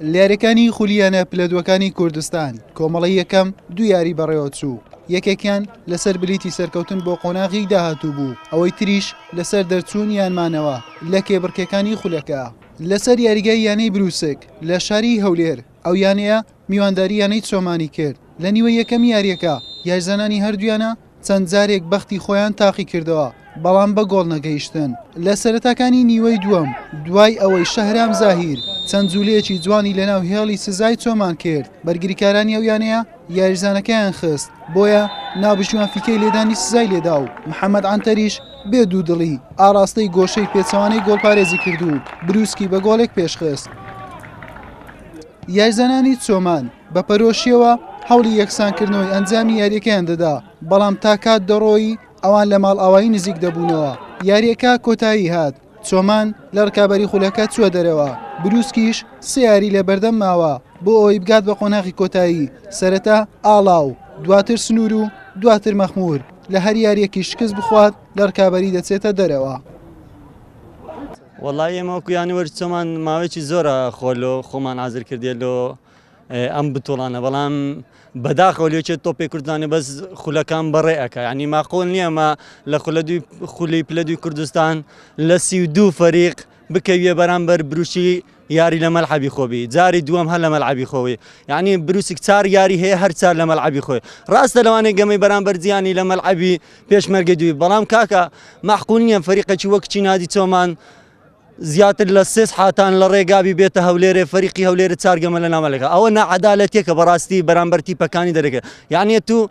لەیاریەکانی خولی یانە پلە دووەکانی کوردستان کۆمەڵی یەکەم دو یاری بەڕێوەچوو یەکێکیان لەسەر بلیتی سەرکەوتن بۆ قۆناغی داهاتوو بوو ئەوەی تریش لەسەر دەرچوون یانمانەوە لە کێبڕکێکانی خولەکە لەسەر یاریگای یانەی بروسک لە شاری هەولێر ئەو یانەیە میوانداری یانەی چۆمانی کرد، لە نیوەی یەکەمی یارییەکە یاریزانانی هەردوویانە چەند جارێک بەختی خۆیان تاقیکردەوە، بەڵام بە گۆڵ نەگەیشتن لە سەرەتاکانی نیوەی دووەم، دوای ئەوەی شەهرام زاهیر چەند جولەیەکی جوانی لەناو هێڵی سزای چۆمان کرد، بەرگریکارانی ئەو یانەیە یاریزانەکەیان خست، بۆیە ناوبژیوان فیکەی لێدانی سزای لێدا و محەمەد عەنتەریش بێ دوودڵی ئاڕاستەی گۆشەی پێچەوانەی گۆڵپارێزی کرد و بروسکی بە گۆڵێک پێشخست. یاریزانانی چۆمان بە پەرۆشیەوە هەوڵی یەکسانکردنەوەی ئەنجامی یاریەکەیان دەدا، بەڵام تا کات دەڕۆیی ئەوان لە ماڵئاوایی نزیک دەبوونەوە، یاریەکە کۆتایی هات چۆمان لە رکابەری خولەکە چووە دەرەوە، بروسکیش سێ یاری لە بەردەم ماوە بۆ ئەوەی بگات بە قۆناغی کۆتایی، سەرەتا ئاڵاو دواتر سنوور و دواتر مەخموور لە هەر یاریەکی شکست بخوات لە رکابەری دەچێتە دەرەوە. وەڵا ئێمە وەکو یانە وەرچۆمان ماوەیەکی زۆرە خۆ لۆ خۆمان ئازر کردێ لۆ ئەم بتۆڵانە بەڵام بەداخەوە لێکێ تۆپێ کوردستانی بەس خولەکان بەڕێ ئەەکە ینی ماقۆل نییە مە لە خولە دوی خولی پلە دوی کوردستان لە سی و دوو فەریق بکەویە بەرامبەر بروشی یاری لە مەلعەبی خۆبی جاری دووەم هەر لە مەلعەبی خۆی یعنی بروسک چار یاری هەیە هەر چار لە مەلعەبی خۆی ڕاستە لەوانەیە گەمەی بەرامبەر جیانی لە مەلعەبی پێشمەرگە دوی بەڵام کاکە معقول نییە فەریقەکی وەک چی نادی چۆمان زیاتر لە سێس حاتان لە ڕێگابی بێتە هەولێرێ فەریقی هەولێرە چارگەمە لە نامەلەکە ئەوە نەعادالەتێکە بەڕاستی بەرامبەرتی پەکانی دەرەکە یعنی تو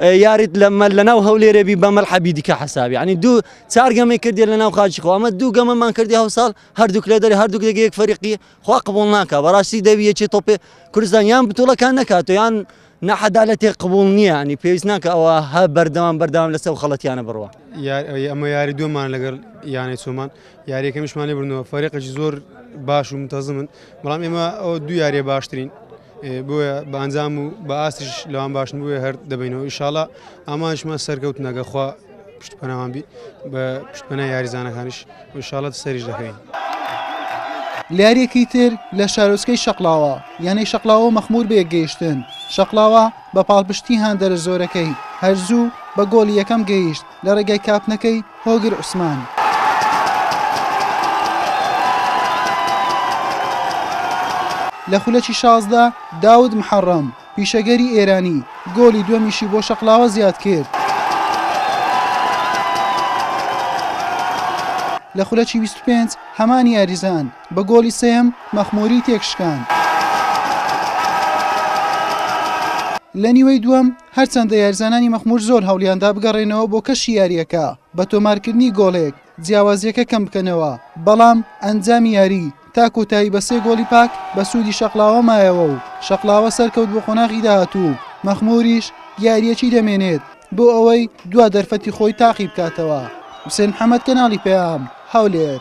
یاریت لەمە لەناو هەولێرێبی بە مەلحەبی دیکە حسابی ینی دوو چارگەمەی کردی لەناو خاچی خۆ ئەمە دوو گەمەمان کردی هەوساڵ هەردووک لە دەری هەردووک دەگە یەک فەرقی خوا قبول ناکە بەڕاستی دەوی یەکی تۆپێ کوردستان یان بتوڵەکان نەکات یان نەحەدالەتێ قبول نییە نی پێویست ناکە ئەوە هە بەردەوام بەردەوام لەسەر خەڵەتیانە بڕوە ئەمە یاری دومان لەگەر یانەی چۆمان یاریەکەمیشمانی بردنەوە فەرقەی زۆر باش و متەزمن بەڵام ئێمە ئەو دو یاریە باشترین بۆیە بە ئەنجام و بە ئاستیش لەوان باش نبووێ هەر دەبینەوە ئیشاڵا ئامانشمان سەرکەوت نەگەخوا پشت پەناوان بی بە پشت پەنا یاریزانەکانش ئیشاڵەت سەریش دەکەین. لەیاریەکی تر لە شارۆچکەی شەقلاوە یانەی شەقلاوە مەخمور بە یەکگەیشتن شەقلاوە بە پاڵپشتی هاندەرە زۆرەکەی هەرزوو بە گۆڵی یەکەم گەیشت لە ڕێگای کاپنەکەی هۆگر عوسمان. لە خولەکی شازدە داود محەڕەم، پیشەگەری ئێرانی گۆلی دووەمیشی بۆ شەقڵاوە زیاد کرد. لە خولەکی بیست و پێنج هەمان یاریزان بە گۆلی سێیەم مەخموری تێکشکاند. لە نیوەی دووەم هەرچەندە یاریزانانی مەخمور زۆر هەوڵیاندا بگەڕێنەوە بۆ کەشی یارییەکە بە تۆمارکردنی گۆڵێک جیاوازیەکە کەم بکەنەوە، بەڵام ئەنجامی یاری تا کۆتایی بە سێ گۆڵی پاک بە سوودی شەقڵاوە مایەوە و شەقڵاوە سەرکەوت بۆ قۆناغی داهاتوو و مەخموریش یارییەکی دەمێنێت بۆ ئەوەی دوا دەرفەتی خۆی تاقی بکاتەوە. حوسێن محەمەد، کەناڵی پەیام، هەولێر.